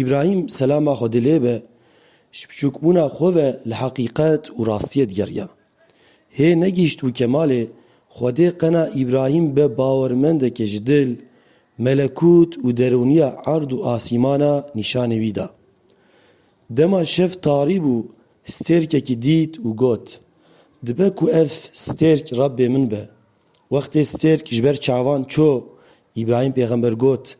Îbrahîm selama Xwedê lê be ji biçûkbûna xwe ve li heqîqet û rastiyê digeriya. Hê negihîştbû kemalê Xwedê qena Îbrahîm be bawermendekê ji dil, melekût û derûniya erd û asîmana nîşanê wî da. Dema şev tarî bû stêrkekî dît û got, Dibe ku ev stêrk Rebbê min be. Wextê stêrk ji ber çavan çû, Îbrahîm pêxember got,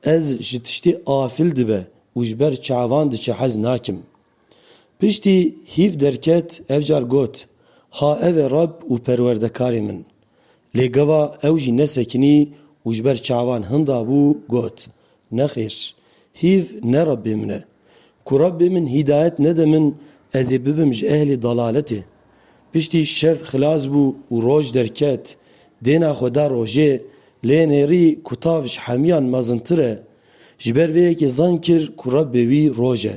Ez ji tiştê afil dibe û ji ber çavan diçe hez nakim. Piştî hîv derket ev car got, Ha ev e Reb û Perwerdekarê min. Lê gava ew jî nesekinî û ji ber çavan hinda bû got, Nexêr. Hîv ne Rabbê min e. Ku Rabbê min hîdayet nede min ez ê bibim ji ehlê dalaletê. Piştî şev xilas bû û roj derket. Dêna xwe da rojê, lê nêrî ku tav ji hemiyan mezintir e. Ji ber vê yekê zan kir ku Rabbê wî roj e.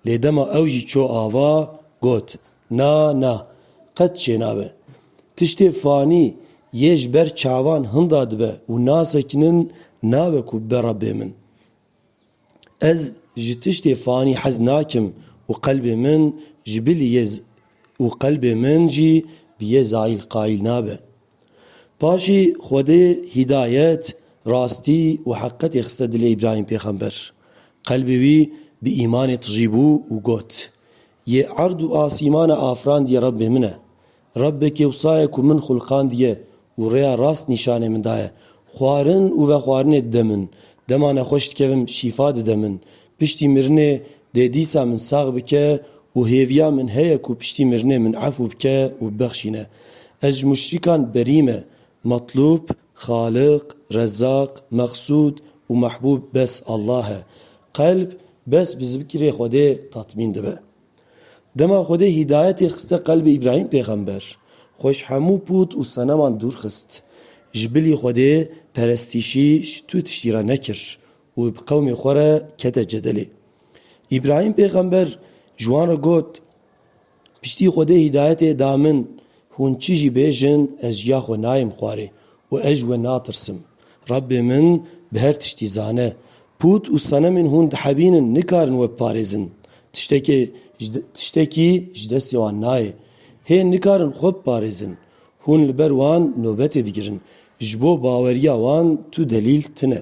Lê dema ew jî çû ava, got, Na, na, qet çênabe. Tiştê fanî yê ji ber çavan hinda dibe û nasekinin nabe ku bibe Rabbê min. Ez ji tiştê fanî hez nakim û qelbê min ji bilî yê û qelbê min jî bi yê zayîl qayîl nabe. Paşî Xwedê hîdayet, rastî û heqîqetê xiste dilê Îbrahîm pêxember. Qelbê wî bi îmanê tijî bû û got, Yê erd û asîmana afrandiye Rebbê min e. Rebbe kewsaye ku min xulqandiye û rêya rast nîşanê min daye. Xwarin û vexwarinê dide min, dema nexweş dikevim şîfa dide min. Piştî mirinê dê dîsa min sax bike û hêviya min heye ku piştî mirinê min efû bike û bibexşîne. Ez ji muşrîkan berî me, Matlûb, Xaliq, Rezzaq, Meqsûd û Mehbûb bes Allah e. Qelb bes bi zikrê Xwedê tatmîn dibe. Dema Xwedê hîdayetê xiste qelbê Îbrahîm pêxember, xwe ji hemû pût û seneman dûr xist. Ji bilî Xwedê perestîşî ji tu tiştî re nekir û bi qewmê xwe re kete cedelê. Îbrahîm pêxember ji wan re got, Piştî Xwedê hîdayetê da min, hûn çi jî bêjin ez ji ya xwe nayêm xwarê û ez ji we natirsim. Rebbê min bi her tiştî zane. Pût û senemên hûn dihebînin nikarin we biparêzin. Tiştekê tiştekî ji destê wan nayê. Hê nikarin xwe biparêzin. Hûn li ber wan nobetê digirin. Ji bo baweriya wan tu delîl tune.